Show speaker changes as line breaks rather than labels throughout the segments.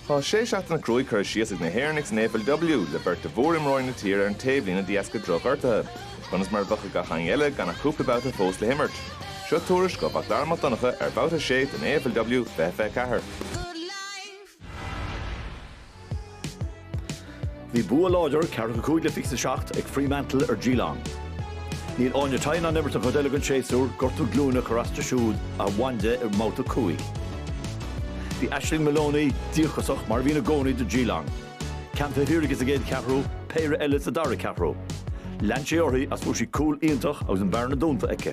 Tá sé seachtaine cruaidh curtha síos ag na hÉireannaigh san AFLW, le beirt de mhór-imreoirí na tíre ar an taobhlíne de dheasca drochghortuithe. Conas mar a bheadh ag gach éinne eile gan ach cúpla babhta fós le himirt? Seo tuairisc ó Mhac Dara Mac Donncha ar Bhabhta 6 den AFLW 2024.
Bhí bua láidir, 45 le 27 ag Fremantle ar Geelong. Níl Áine Tighe in ann imirt an chuid eile den séasúr, gortú glúine ag cur as di siúd a bhain di i mbabhta 5. Bhí Aisling Moloney díocasach, mar a bhíonn i gcónaí do Geelong. Ceann taobh thiar aici sa gcéad cheathrú, péire eile sa dara ceathrú. Lean sé uirthi agus fuair sí cúl iontach agus an bearna dúnta aici.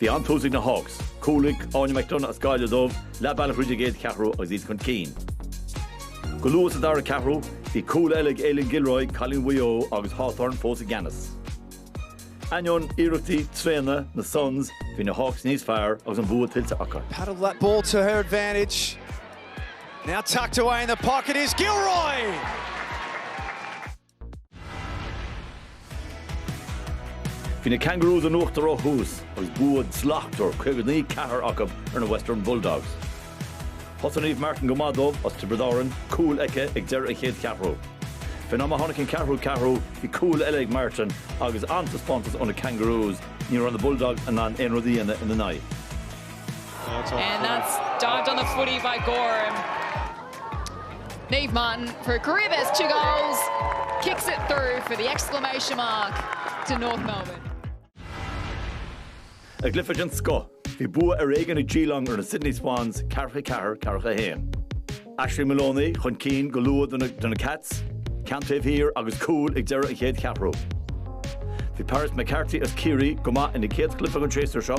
Bhí an-tús ag na Hawks. Cúl ag Áine McDonagh as Gaillimh dóibh, leath bealach thríd an gcéad cheathrú agus iad chun cinn. Go luath sa dara ceathrú, bhí cúl eile ag Aileen Gilroy, cailín Mhaigh Eo, agus Hawthorn fós i gceannas. Ainneoin iarrachtaí tréana na Suns, bhí na Hawks níos fearr agus an bua tuillte acu. Paddled that ball to
her advantage. Now tucked away in the pocket is Gilroy!
Bhí na Kangaroos in uachtar ó thús agus bua slachtmhar, 59 ceathair, acu ar na Western Bulldogs. Thosaigh Niamh Martin go maith dóibh as Tiobraid Árann, cúl aici ag deireadh an chéad cheathrú. Faoin am a tháinig an ceathrú ceathrú, bhí cúl eile ag Martin agus an-taispeántas ó na Kangaroos, ní raibh na Bulldogs in ann aon rud a dhéanamh ina n-aghaidh.
Niamh Martin for a career best two goals, kicks it through for the exclamation mark to North Melbourne.
I gcluiche den scoth, bhí bua ar éigin ag Geelong ar na Sydney Swans, ceathracha a ceathair, ceathracha a haon. Aisling Moloney chun cinn go luath do na Cats, ceann taobh thiar agus cúl ag deireadh an chéad cheathrú. Bhí Paris McCarthy as Ciarraí go maith ina céad chluiche den séasúr seo,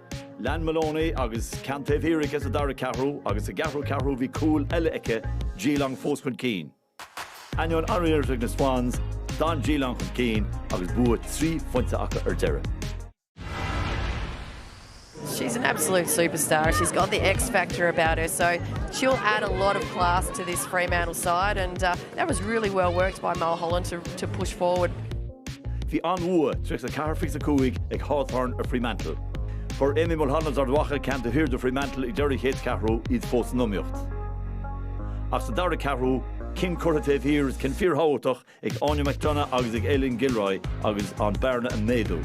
Lean Moloney agus ceann taobh thiar aici sa dara ceathrú agus sa gceathrú ceathrú bhí cúl eile aici, Geelong fós chun cinn. Ainneoin sháriarracht na Swans, d'fhan Geelong chun cinn agus bua trí phointe acu ar deireadh.
She's an absolute superstar. She's got the X factor about her, so she'll add a lot of class to this Fremantle side. And uh, that was really well worked by Mulholland to, to push forward.
Bhí an-bhua, 34 25, ag Hawthorn ar Fremantle. Fuair Amy Mulholland as Ard Mhacha ceann taobh thiar do Fremantle ag deireadh an chéad cheathrú, iad fós san iomaíocht. Ach sa dara ceathrú, cinn curtha taobh thiar is cinn fíorthábhachtach ag Áine McDonagh agus ag Aileen Gilroy agus an bearna ag méadú.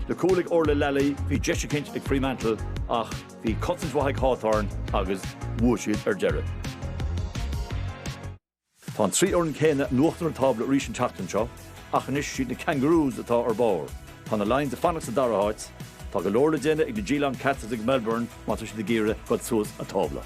Le cúl ag Orlagh Lally, bhí deis eicint ag Fremantle ach bhí cosaint mhaith ag Hawthorn agus bhuaigh siad ar deireadh. Tá an trí fhoireann céanna in uachtar an tábla arís an tseachtain seo ach anois siad na Kangaroos atá ar barr. Tá na Lions ag fanacht sa dara háit. Tá go leor le déanamh ag na Geelong Cats is ag Melbourne má tá siad ag iarraidh dul suas an tábla.